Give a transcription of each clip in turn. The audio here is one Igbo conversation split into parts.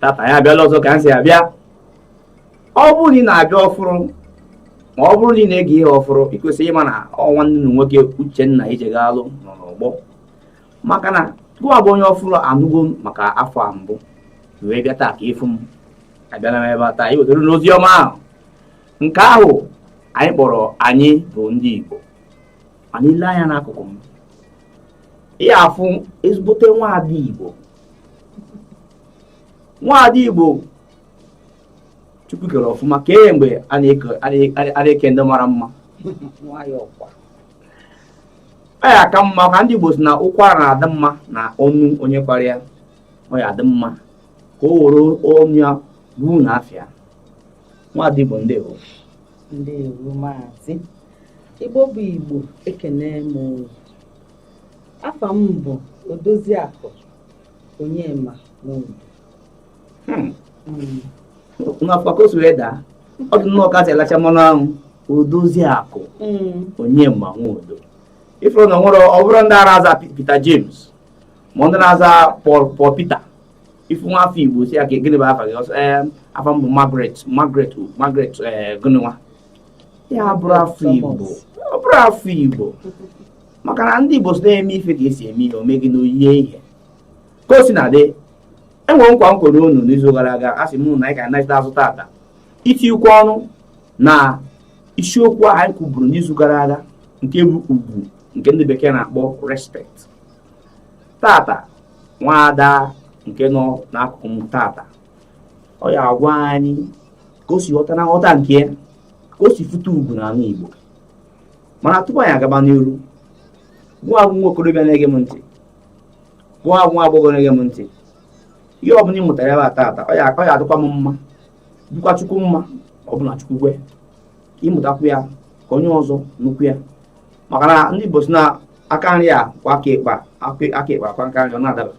tata anyị abịala ọzọ ka anyị si abịa ọ bụrụ na ị na-abịa ọfụrụ ma ọ bụrụ na ị na-ege ihe ọfụrụ ị kwesịrị ịma na ọ nwanne unu nwoke Uchenna Ijegalụ nọ n'ọgbọ maka na gụwa bụ onye ọfụrụ anụgo maka afọ a mbụ wee bịa taa ka ị fụ m abịala m ebe a taa iwetara unu ozi ọma ahụ nke ahụ anyị kpọrọ anyị bụ ndị Igbo mana ị lee anya n'akụkụ m ị ya afụ ezigbote nwaada Igbo nwaada igbo chukwu kere ọfụma kemgbe a na-eke ndị mara mma ọ ya aka mma ka ndị igbo sị na ụkwara na-adị mma na ọnụ onye kwara ya ọ ya adị mma ka o were ọnụ ya gwa unu afa ya nwaada igbo ndewo ndewo maazị igbo bụ igbo ekene m Afa m bụ Odoziakụ Onyema Nwodo. Hmm. Hmm. Nụkwa ka o si wee daa, ọ dị nnọọ ka e si alacha mmanụ anwụ Odoziakụ hmm. Onyema Nwodo. Ị fụrụ na o nwere ọ bụrọ ndị a na-aza Peter James ma ndị na-aza Paul Peter ị fụ nwa afọ Igbo sị ya ka gịnị bụ afa gị ọ sị ee afa m bụ Margaret gịnị nwa ya bụrụ afa Igbo ọ bụrụ afa Igbo maka na ndị Igbo sị na e mee ife ka e si eme ihe o mee gịnị o yie ihe ka o sina dị e nwere nkwa m kwere unu n'izu gara aga asị m na anyị ga-anachita azụ tata itikwu ọnụ na isiokwu ahụ anyị kwuburu n'izu gara aga nke bụ ugwu nke ndị bekee na-akpọ respect tata nwaada nke nọ n'akụkụ m tata ọ ya agwa anyị ka o si ghọta na nghọta nke ya ka o si fụta ugwu n'ala Igbo mana tupu anyị agaba n'iru gụwa bụ nwa okorobịa na-ege m ntị gụwa bụ nwa agbọghọ na-ege m ntị ihe ọbụla ị mụtara ebe a taata ọ ya adịkwa m mma dịkwa chukwu mma ọ bụrụ na chukwu kwe ka ị mụtakwu ya ka onye ọzọ nụkwu ya maka na ndị Igbo sị na aka nri kwọọ aka ekpe, aka ekpe akwọọ aka nri ọ na-adaba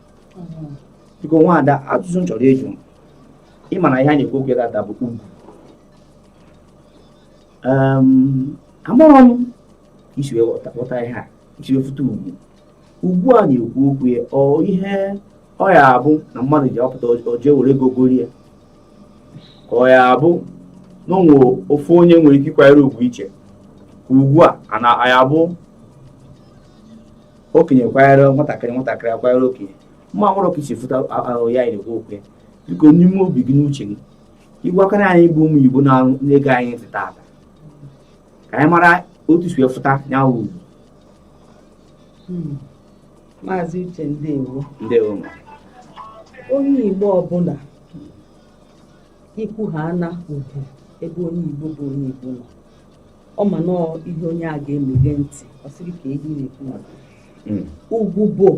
biko nwaada ajụjụ m chọrọ ịjụ ị ma na ihe a na-ekwu okwu ya tata bụ ugwu amarọ m ka i si wee ghọta ihe a i si wee fụta ugwu ugwu a na-ekwu okwu ya ọ ihe ọ ya abụ na mmadụ ji apụta o jee were ego gori ya ka ọ ya abụ na o nwere ofu onye nwere ike ịkwanyere ugwu iche ka ugwu a ọ na ya abụ okenye kwanyere nwatakịrị nwatakịrị akwanyere okenye amarọ m ka i si fụta ihe a na-ekwu okwu ya biko n'ime obi gị n'uche gị ị gwakọrọ anyị bụ ụmụ igbo na-ege anyị ntị taata ka anyị mara otu i si wee fụta ya wụ ugwu hmm. maazị uche ndewo ndewo onye igbo ọbụla ikwu ha ana ugwu ebe onye igbo bụ onye igbo nọ ọ ma na ọ ihe onye a ga-emeghe ntị ọ sị kee ihe ị na-ekwu hmm. ugwu bụ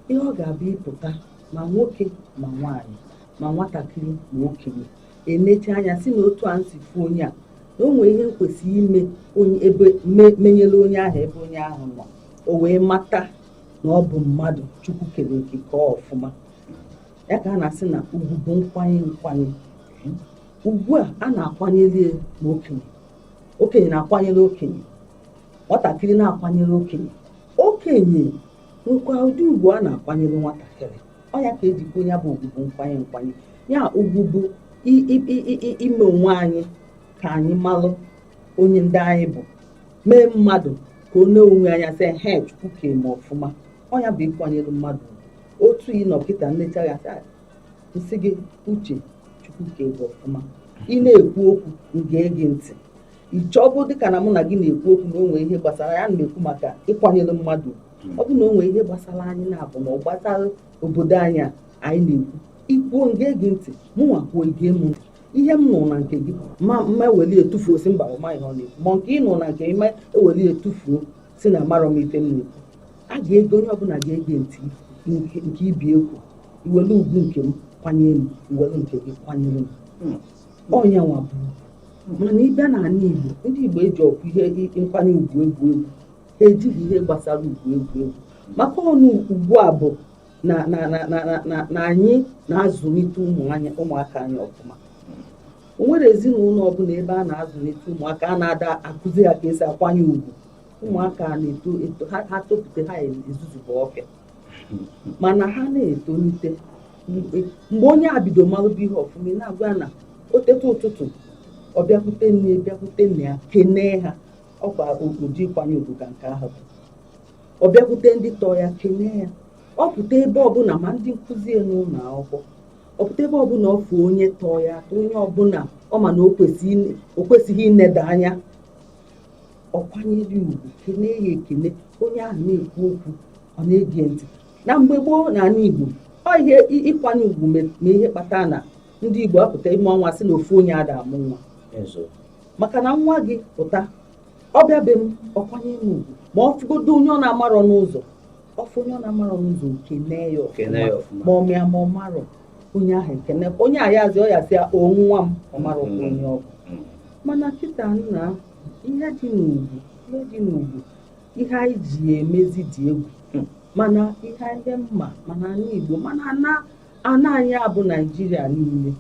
ihe ọ ga-abụ ịpụta ma nwoke ma nwaanyị ma nwatakịrị ma okenye e nechaa anya sị na otu a m si fụ onye a na o nwere ihe m kwesịrị ime onye ebe me- menyere onye ahụ ebe onye ahụ nọ o wee mata na ọ bụ mmadụ chukwu kere eke kee ya ọfụma ya ka a na-asị na ugwu bụ nkwanye nkwanye ugwu a a na-akwanyere ya ma okenye okenye na-akwanyere okenye nwatakịrị na-akwanyere okenye okenye nwekwa ụdị ugwu a na-akwanyere nwatakịrị ọ ya ka eji kwuo ya bụ ugwu bụ nkwanye nkwanye ya ugwu bụ i- i- i- i- i- ime onwe anyị ka anyị malụ onye ndị anyị bụ mee mmadụ ka o nee onwe ya anya sị he chukwu kere m ọfụma ọ ya bụ ịkwanyere mmadụ otu ị nọ kịta m nechaa gị sị "Ah, m sị gị uche chukwu kere gị ọfụma ị na-ekwu okwu m gee gị ntị iche ọ bụrụ dịka na mụ na gị na-ekwu okwu na o nwe ihe gbasara ya na-ekwu maka ịkwanyere mmadụ hmm. ọ bụ na o nwe ihe gbasara anyị naabọ ma ọ gbasara obodo anyị a anyị na-ekwu i kwuo m gee gị ntị mụ nwa kwuo i gee m ihe m nụrụ na nke gị m ma eweli ya tufuo sị mba ọ marọ ihe ọ na-ekwu ma nke ị nụrụ na nke m ị ma eweli ya tufuo sị na amarọ m ife m na-ekwu a ga-ege onye ọbụla ga-ege ntị nke ibe ya ekwu iwelu ugwu nke m kwanyere m iwelu nke gị kwanyere m hmm. ọ nya nwa bụ mana ịbịa n'ala Igbo ndị Igbo ejirọkwa ihe nkwanye ugwu egwu egwu ha ejighị ihe gbasara ugwu egwu egwu maka na ugwu a bụ na anyị na-azụlite ụmụaka anyị ọfụma o nwere ezinụlọ ọbụla ebe a na-azụlite ụmụaka a na-ada akụzi ya ka esi akwanye ugwu ụmụaka na-eto ha topụta ha ezuzugbuo ọfịa mana ha na-etolite mgbe onye a bido malụba ihe ọfụma ị na-agwa ya na o teta ụtụtụ ọ bịakwute nna bịakwute nne ya kenee ha ọkwa ụdị ịkwanye ugwu ka nke ahụ bụ ọ bịakwute ndị tọọ ya kenee ya ọ pụta ebe ọbụla ma ndị nkụzi ya n'ụlọ akwụkwọ ọ pụta ebe ọbụla ọ fụ onye tọọ ya onye ọbụla ọ ma na o kwesịghị ineda anya ọ kwanyere ya ugwu kenee ya ekene onye ahụ na-ekwu okwu ọ na-ege ntị na mgbe gboo n'ala Igbo ọ ihe ịkwanye ugwu ma ihe kpata na ndị Igbo apụta ime ọnwa sị na ofu onye ada amụ nwa maka na nwa gị pụta ọ bịa be m ọ kwanye m ugwu ma ọ fụgodo onye ọ na-amarọ n'ụzọ ọ fụ onye ọ na-amarọ n'ụzọ kenee ya ọfụma ma ọ ma ya ma ọ marọ onye ahụ ekene onye a azaa ya sị o nwa m ọ marọkwa onye ọ bụ mana kịta nna ihe dị n'ugwu ihe dị n'ugwu ihe anyị ji emezi dị egwu hmm. mana ihe ndị mma mana anyị Igbo mana ana ana anyị abụ Naijiria niile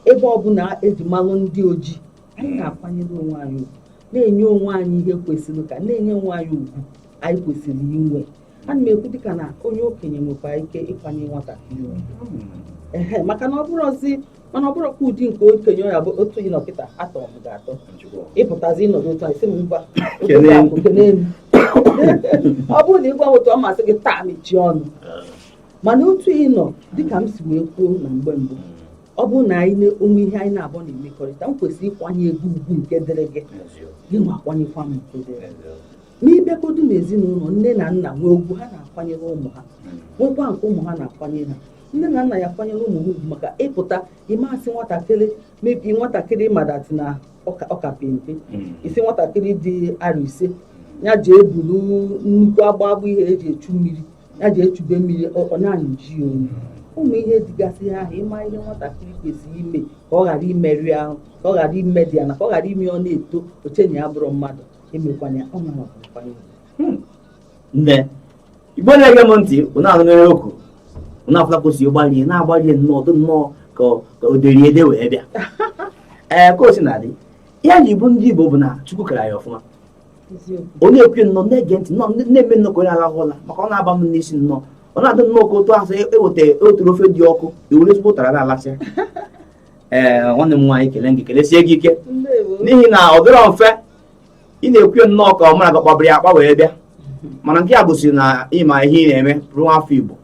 ebe ọbụla eji malụ ndị ojii anyị hmm. na-akwanyere onwe anyị ugwu na-enye onwe anyị ihe kwesịrị ka na-enye onwe anyị ugwu anyị kwesịrị inwe ana m ekwu dịka na onye okenye nwekwa ike ịkwanye nwatakịrị hmm. maka na ọ bụrụzi mana ọ bụrụkwa ụdị nke okenye ya bụ otu ị nọ kịta atọ m gị atọ ị pụtazi ị nọdụ otu anyị sị m mba ọ bụrụ na ị gwa otu ọ masị gị taa mechie ọnụ mana otu ị nọ dịka m si wee kwuo na mgbe mbụ ọ bụrụ na anyị na o nwe ihe anyị naabụ na-emekọrịta m kwesịrị ịkwanye gị ugwu nke dịrị gị gị nwa akwanyekwa m nke dịrị m ị bịakọdu n'ezinụlọ nne na nna nwee ugwu ha na-akwanyere ụmụ ha nwekwa nke ụmụ ha na-akwanyere ha nne na nna ya kwanyere ụmụ ha ugwu maka ị pụta ị ma sị nwatakịrị mebi nwatakịrị madat na ọ ka pe mpe hmm. ị sị nwatakịrị dị arọ ise ya jee buru nnukwu agba agba ihe e ji echu mmiri ya jee chube mmiri ọ na-anyịji onu ụmụ ihe dịgasị ha ahụ ị ma ihe nwatakịrị kwesịrị ime ka ọ ghara imerụ ahụ ka ọ ghara ime dị ya na ka ọ ghara ime ọ na-eto o chee na ya abụrọ mmadụ emekwanye ọ na-amakwanye nne Igbo na-ege m ntị ụnụ anụ mere okwu ụnụ afụla ka o si ịgbalie na-agbalie nnọọ ọ dị nnọọ ka o deri ede wee bịa ee ka o si na-adị ihe a ji bụ ndị Igbo bụ na chukwu kere ya ọfụma ọ na-ekwu nnọọ na-ege ntị nnọọ na-eme nnọọ ka onye alahụ ụla maka ọ na-aba m n'isi nnọọ ọ na-adị nnọọ ka otu ahụ eweta e oturu ofe dị ọkụ e were ezigbo ụtara na-alasị ee nwanne m nwaanyị kelee gị kelesie gị ike n'ihi na ọ dịrọ mfe ị na-ekwu ya nnọọ ka ọ mara gị kpabiri akpa wee bịa mana nke a gosiri na ị ma ihe ị na-eme bụrụ nwa afọ Igbo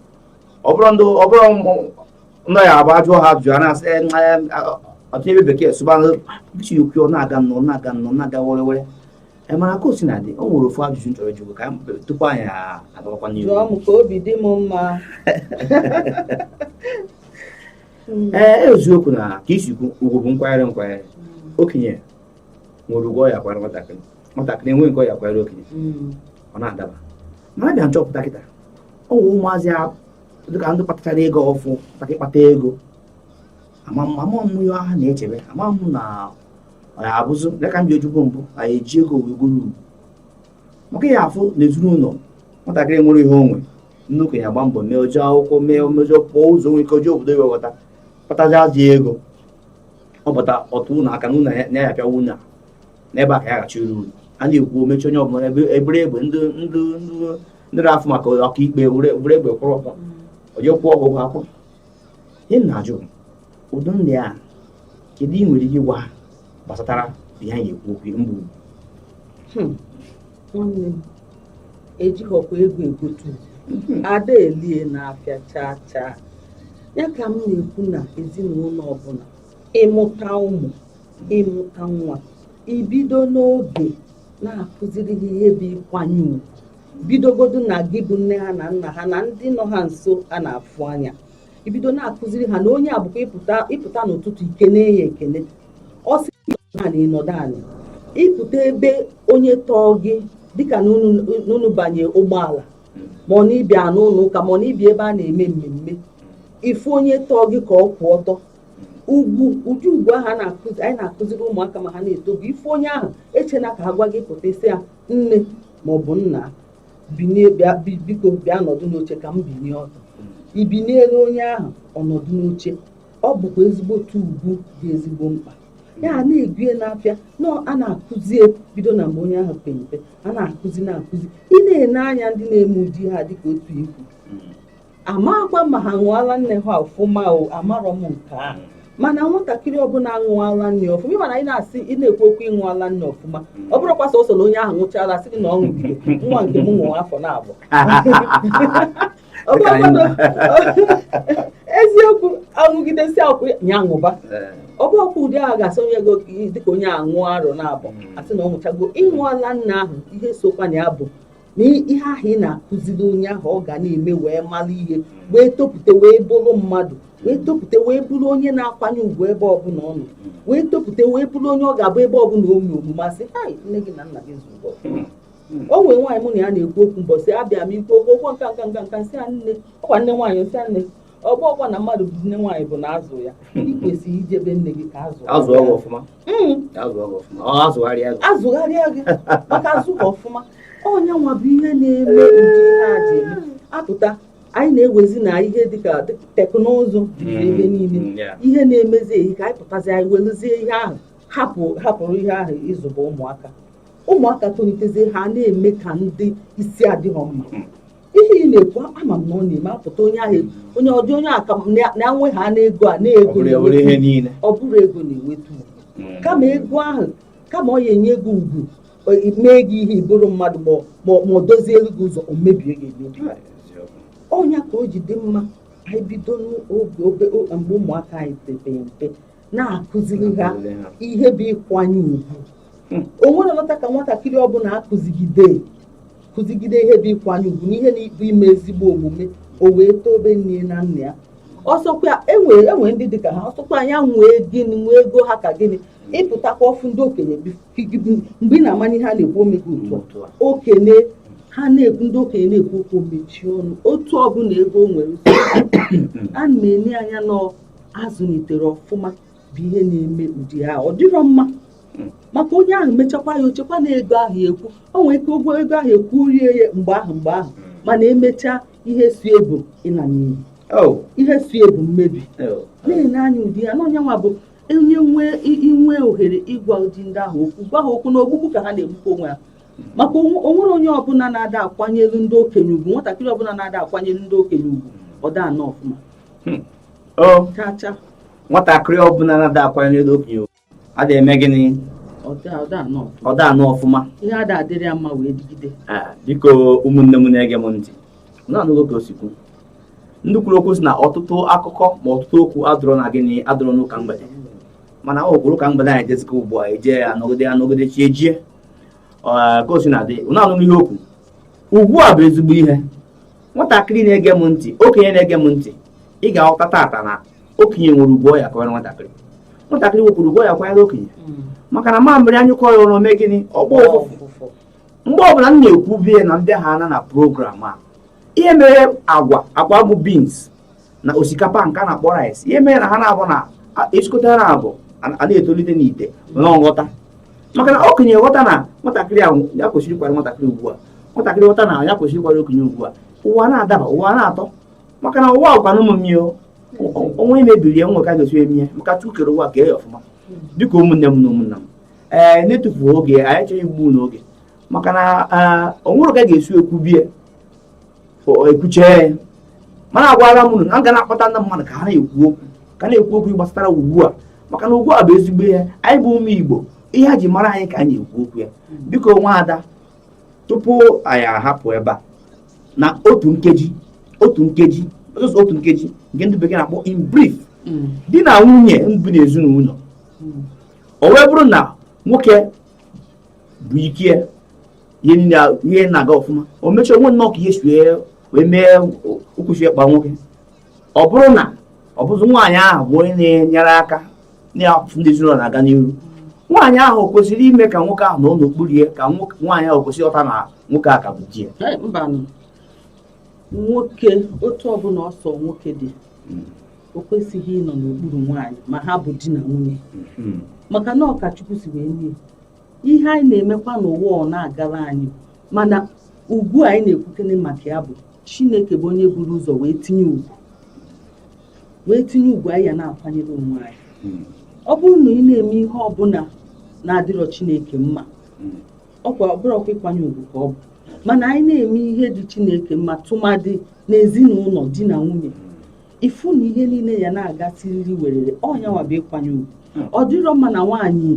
ọ bụrụ ndị ọ bụrụ nọ ya abụ a jụọ ha ajụjụ a na-asị "Eh, nwa ya, ah, ọtụ ebe bekee sụba bichi okwu ọ na-aga nnọọ na-aga nnọọ na-aga were were Eh, mana ka o si na-adị o nwere ofu ajụjụ m chọrọ ịjụ gị ka m tupu anyị agawakwa n'ihu jụọ m ka obi dị m mma Mm. ee eziokwu na ka i si kwu ugwu bụ nkwanyere nkwanyere okenye nwere ugwu ọ ya akwara nwatakịrị nwatakịrị enwee nke ọ ya akwara okenye hmm. ọ na-adaba mana a bịa nchọpụta kịta o nwere ụmụazị dịka ndị kpatachara ego ọfụ maka ịkpata ego ama m ihe ha na-echebe ama m na ya abụzị dịka ndị ojugbo mbụ anyị eji ego wee goro ugwu maka ị ya afụ na ezinụlọ nwatakịrị nwere ihe o nwe nne okenye agba mbọ mee o je akwụkwọ mee omejọ pụọ ụzọ nwere ike o je obodo iwe ghọta kpatazi azụ ego ọ bụta ọtụ ụlọ aka na ụlọ na ya apịawa ụlọ n'ebe a ka ya ghachi uru a na-ekwu omechi onye ọbụla ebe ebere egbe ndị ndị ndị na-afụ maka ọkaikpe were egbe kwụrụ ọtọ onye kwụọ ọgwụgwọ akwụ ihe m na-ajụ ụdị ndị a kedu ị nwere ike ịgwa ha gbasatara ihe anyị ekwu okwu mgbu nwanne m ejighọkwa ego egotu a da-ele ya n'afịa chaa chaa ya ka m na-ekwu na ezinụlọ ọbụla ị mụta ụmụ ị mụta nwa i bido n'oge na-akụziri ha ihe bụ ịkwanye ugwu bidogodu na gị bụ nne ha na nna ha na ndị nọ ha nso a na-afụ anya i bido na-akụziri ha na onye a bụkwa ị pụta n'ụtụtụ i kene ya ekene ọ sị na ị nọdụ anị ị pụta ebe onye tọọ gị dịka na unu banye ụgbọala ma ọ na ị bịa n'ụlọ ụka ma ọ na ị bịa ebe a na-eme mmemme ị fụ onye tọọ gị ka ọ kwụ ọtọ ugwu ụdị ugwu ahụ anyị na-akụziri ụmụaka ma ha na-eto bụ ị fụ onye ahụ echena ka a gwa gị ị pụta ị sị ya nne maọbụ nna binie bịa bi- biko bịa nọdụ n'oche ka m binie ọtọ i biniere onye ahụ ọ nọdụ n'oche ọ bụkwa ezigbote ugwu dị ezigbo mkpa ya a na-ego ya n'afịa na a na-akụzi ya bido na mgbe onye ahụ pe mpe a na-akụzi na-akụzi ị na-ene anya ndị na-eme ụdị ihe a dịka otu i kwu amakwa ma ha ṅụọ ala nne ha ọfụma o amarọ m nke a mana nwatakịrị ọbụla aṅụọ ala nne ọfụma ị ma na anyị na-asị ị na-ekwu okwu ị ṅụọ ala nne ọfụma ọ bụrọkwa sọsọ na onye ahụ ṅụcha ala sị gị na ọ ṅụgide nwa nke m ṅụrụ afọ na abụọ eziokwu aṅụgide sị ka ya ṅụba ọ bụọkwa ụdị ahụ ga-asị onye gị dịka onye aṅụ arọ na abụọ asị na ọ ṅụchago ịṅụ ala nne ahụ ihe sokwa na ya bụ na ihe ahụ ị na-akụziri onye ahụ ọ ga na-eme wee mara ihe wee topụta wee bụrụ mmadụ wee topụta wee bụrụ onye na-akwanye ugwu ebe ọbụla ọ nọ wee topụta wee bụrụ onye ọ ga-abụ ebe ọbụla o mee omume a sị hai nne gị na nna gị zụrụ o nwere nwaanyị mụ na ya na-ekwu okwu mbọsị abịa m ikwu okwu okwu nka nka nka nka m sị ya nne ọkwa nne nwaanyị m sị ya nne ọ bụ ọkwa na mmadụ bụ nne nwaanyị bụ na azụ ya hmm. ị kwesịrị ije be nne gị ka azụ azụrọ gị ọfụma hmm. azụrọ gị ọfụma ọ azụgharịa gị azụgharịa gị maka azụghị ọfụma ọ nya nwa bụ ihe na-eme ụdị ihe a ji eme apụta anyị na-ewezi na ihe dịka teknụzụ juru hmm. ebe niile ihe na-emezi ehi ka anyị pụtazi anyị weluzie ihe ahụ hapụ hapụrụ ihe ahụ ịzụba ụmụaka ụmụaka tolitezie ha na-eme ka ndị isi adịghị mma ihe ị na-ekwu ama m na ọ na-eme apụta onye ahụ onye ọ dị onye aka na-enwe ha n'ego a na-ego ọ bụrọ ego na-eweta ugwu kama ego ahụ kama ọ ya-enye gị ugwu mee gị ihe ị bụrụ mmadụ ma ọ doziere gị ụzọ o mebie gị emebi ọ nya ka o ji dị mma anyị bido n'oge mgbe ụmụaka anyị pepere mpe na-akụziri ha ihe bụ ịkwanye ugwu hmm. o nwere nwata ka nwatakịrị ọbụla akụzigide kụzigide ihe bụ ịkwanye ugwu na ihe na-abụ ime ezigbo omume o wee tobe nne na nna ya ọ sọkwa enwe enwe ndị dịka ha ọ sọkwa nya nwee gịnị nwee ego ha ka gịnị ọ pụtakwa ọ fụ ndị okenye mgbe ị na-amanye ha na-ekwu o mego otu okenye ha na-ekwu ndị okenye na-ekwu okwu mechie ọnụ otu ọbụla ego o nwere ha na-enye anya n'ọ azụliterọ ọfụma bụ ihe na-eme ụdị ahụ ọ dịrọ mma maka onye ahụ mechakwa ya o chekwa na ego ahụ ekwu o nwere ike ụgwọ ego ahụ ekwu rie ya mgbe ahụ mgbe ahụ mana emechaa ihe so ya bụ ịna n'iyi oh. ihe so ya bụ mmebi oh. na-enye anyị ụdị ya na ọ nya nwa bụ onye nwee inwe ohere ịgwa ụdị ndị ahụ okwu gwa ha okwu na ogbugbu ka ha na-egbukwa onwe ha maka onwere onye ọbụla na-ada akwanyelu ndị okenye ugwu nwatakịrị ọbụla na-ada akwanyelu ndị okenye ugwu ọ da anọ ọfụma chacha nwatakịrị ọbụla na-ada akwanyelu okenye ada eme gịnị ọ da anọ ọfụma ihe ada adịrị ya mma wee digide biko ụmụnne m na-ege m ntị unu anụgo ka o si kwu ndị kwuru okwu sị na ọtụtụ akụkọ ma ọtụtụ okwu adụrọ na gịnị adụrọ n'ụka mgbede mana ọ bụrụ ụka mgbede anyị jezie ụka ugbu a eje ya anọgide anọgide chi ejie ka o si na-adị na-anụ ihe okwu ugbu a bụ ezigbo ihe nwatakịrị na-ege m ntị okenye na-ege m ntị ị ga-aghọta tata na okenye nwere ugwu ọ ya-akwanyere nwatakịrị nwatakịrị nwekwuru ugwu ọ ya-akwanyere okenye hmm. maka na mamịrị anyụkọ ya ọnụ o mee gịnị ọ gbọọ ụfụfụ mgbe ọbụla m na-ekwu bie na ndị ha ana na program a ihe mere agwa agwa bụ beans na osikapa nke a na-akpọ rice ihe mere na ha na-abụ na esikọta ha naabọ ha na-etolite n'ite nwere nghọta maka na okenye ghọta na nwatakịrị ahụ ya kwesịrị ịkwara nwatakịrị ugwu nwatakịrị ghọta na ya kwesịrị ịkwara okenye ugwu ụwa na-adaba ụwa na-atọ maka na ụwa ọkwa na ụmụ mmadụ onwe mebiri ya nwe ka ga-esi eme maka Chukwu kere ụwa kee ya ọfụma biko ụmụnne m na ụmụnna m ee eh, na-etufughị oge anyị achọrọ igbu n'oge maka na eh, onwere ka ga-esi ekwu bie ekwuchie ya mana agwara m na m ga na-akpọta ndị mmadụ ka ha na-ekwu okwu ka na-ekwu okwu gbasara ugwu a maka na ugwu a bụ ezigbo ihe anyị bụ ụmụ igbo ihe a ji mara anyị ka anyị ekwu okwu ya biko nwa ada tupu anyị ahapụ ebe a na otu nkeji otu nkeji otu nkeji nke ndị bekee na-akpọ in brief mm. di na nwunye bi na ezinụlọ mm. o wee bụrụ na nwoke bụ ike ihe niile ihe na-aga ọfụma o mechaa o nwee nnọọ ka ihe si wee mee ụkwụ si wee kpa nwoke ọ bụrụ na ọ bụzi nwaanyị ahụ bụ onye na-enyere aka na-afụ na ezinụlọ na-aga n'ihu nwaanyị ahụ kwesịrị ime ka nwoke ahụ nọ n'okpuru ya ka nwaanyị ahụ kwesịrị ịghọta na nwoke a ka bụ di ya Ee, mbanụ. nwoke otu ọbụla ọ sọ nwoke dị o kwesịghị ịnọ n'okpuru nwaanyị ma ha bụ di na nwunye hmm. maka na ọ ka chukwu si wee nye ihe anyị na-emekwa n'ụwa ọ na-agara anyị mana ugwu anyị na-ekwukene maka ya bụ chineke bụ onye buru ụzọ wee tinye ugwu wee tinye ugwu anyị ya na-akwanyere onwe anyị hmm. ọ bụrụ na ị na-eme ihe ọbụla na-adịrọ chineke mma hmm. ọkwa ọ bụrọkwa ịkwanye ugwu ka ọ bụ mana anyị na-eme ihe dị chineke mma tụmadị n'ezinụlọ di na nwunye ị fụ na ihe niile ya na-aga siriri werere ọ nya nwa bụ ịkwanye ugwu ọ dịrọ mma na nwaanyị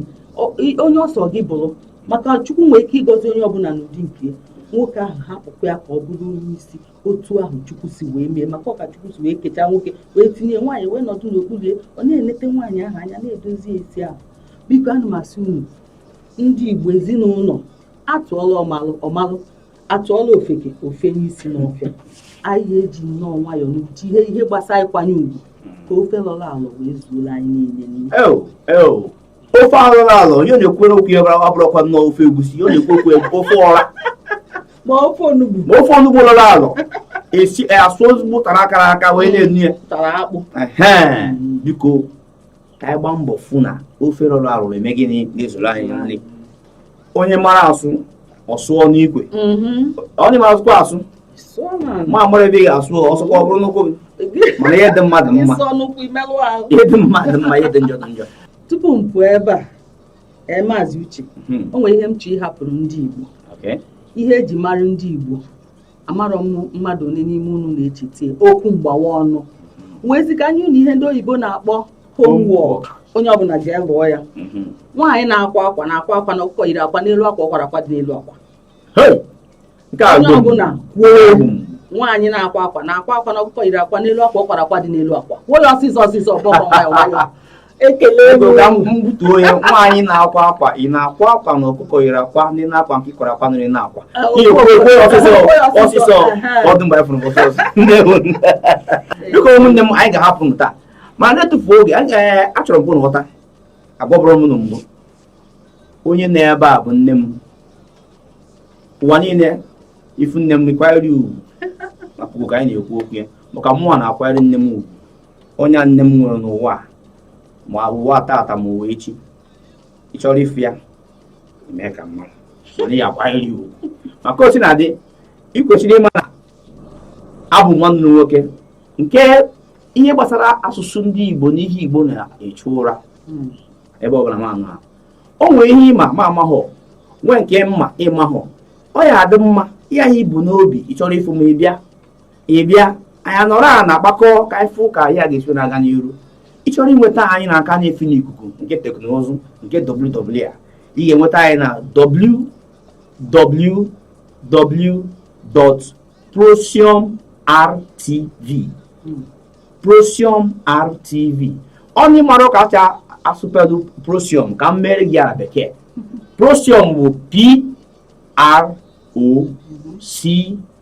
onye ọ sọ gị bụrụ maka chukwu nwee ike ịgọzi onye ọbụla n'ụdị nke nwoke ahụ hapụkwa ya ka ọ bụrụ onye isi otu ahụ chukwu si wee mee maka ọ ka chukwu si wee kechaa nwoke wee tinye nwaanyị wee nọdụ n'okpuru ya ọ na-enete nwaanyị ahụ anya na-edozi ezi ahụ biko ana m asị unu ndị igbo ezinụlọ atụọla ọmalụ ọ malụ atụọla ofeke o fenye isi n'ọfịa anyị eji nnọọ nwayọọ n'uche ihe gbasara ịkwanye ugwu ka ofe lọrọ alọ wee zuola anyị niile n'ihe eo eo ofe alọrọ alọ onye na-ekwere okwu ya ọ bụrụkwa nnọọ ofe egusi ọ na-ekwu okwu ya ofe ọra ma ofe onugbu ma ofe onugbu lọrọ alọ e sisịa ozugbo ụtara kara aka wee na-eno ya ụtara akpụ Ehe, biko ka anyị gbaa mbọ fụ na ofe lọrọ alọ eme gịnị na-ezuru anyị nri onye mara asụ ọ sụọ n'ikwe mm-hmm. onye mara asụkwa asụ ma amarọ ebe ị ga-asụ ọ sụọkwa ọ bụrụ n'ụkwụ gị mana ihe dị mma dị mma ihe dị mma dị mma ihe dị njọ dị njọ tupu m pụọ ebe a ee maazị uche hmm. o nwere ihe m chọ ịhapụrụ ndị Igbo ihe e ji mara ndị Igbo amarọ m mmadụ one n'ime unu na-echeta okwu mgbawa ọnụ ngwazi ka a nye unu ihe ndị oyibo na-akpọ homework onye ọbụla jee lụọ ya mhm. nwaanyị na-akwa akwa na-akwa akwa na ọkụkọ yiri akwa n'elu akwa ọ kwara akwa dị n'elu akwa onye ọbụla kwuo egwu nwaanyị na-akwa akwa na-akwa akwa na ọkụkọ yiri akwa n'elu akwa ọ kwara akwa dị n'elu akwa kwuo ya ọsịsọ ọsịsọ ọgbọgbọ nwayọ nwayọ ekele ego ka m gbutuo ya nwaanyị na-akwa akwa ị na-akwa akwa na ọkụkọ yiri akwa n'enu akwa nke ị kwara akwa n'enu akwa ọsịsọ ọdụ mgbe fụrụ biko ụmụnne m anyị ga-ahapụ m taa ma na-etufu oge achọrọ m ka unu ghọta agwaburu m unu na mbụ onye nọ ebe a bụ nne m ụwa niile ị fụ nne m kwanyere ugwu maka ka anyị na-ekwu okwu ya maka mụnwa na-akwanyere nne m ugwu onye nne m nwere n'ụwa a, ma ụwa tata ma ụwa echi ị chọrọ ịfụ ya ị mee ka m mara na ị ya-akwanyere ya ugwu maka o si na-adị ị kwesịrị ịma na abụ m nwanne unu nwoke nke ihe gbasara asụsụ ndị igbo na ihe igbo na-echu ụra ebe ọbụla m nọ o nwere ihe ị ma m amahọ nwee nke m ma ị mahọ ọ ya-adị mma ihe a i bu n'obi ị chọrọ ịfụ m ị bịa ị bịa anyị anọrọ a na-akpakọ ka anyị fụ ka ya ga-esi na-aga n'iru ị chọrọ inweta anyị n'aka na-efe n'ikuku nke teknụzụ nke WWW ị ga-enweta anyị na www.prosiumrtv prosiumrtv onye amarọ ka e si asụpelụ prosium ka m mere gị ya na bekee prosium bụ p r o c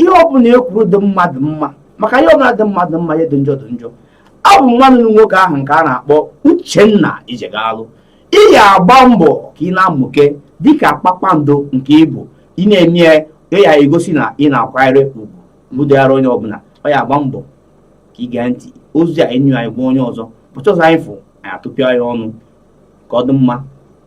ihe ọbụla e kwuru dị mmadụ mma maka ihe ọbụla dị mmadụ mma ihe dị njọ dị njọ abụ m nwanne unu nwoke ahụ nke a na-akpọ Uchenna Ijegalụ ị ya-agba mbọ ka ị na-amụke dịka kpakpando nke ị bụ ị na-eme ya na-egosi na ị na-akwanyere ugwu mụdịghara onye ọbụla ọ ya-agba mbọ ka ị gee ntị ozi a enyi anyị gwa onye ọzọ ụbọchị ọzọ anyị fụ anyị atụpịa ya ọnụ ka ọ dị mma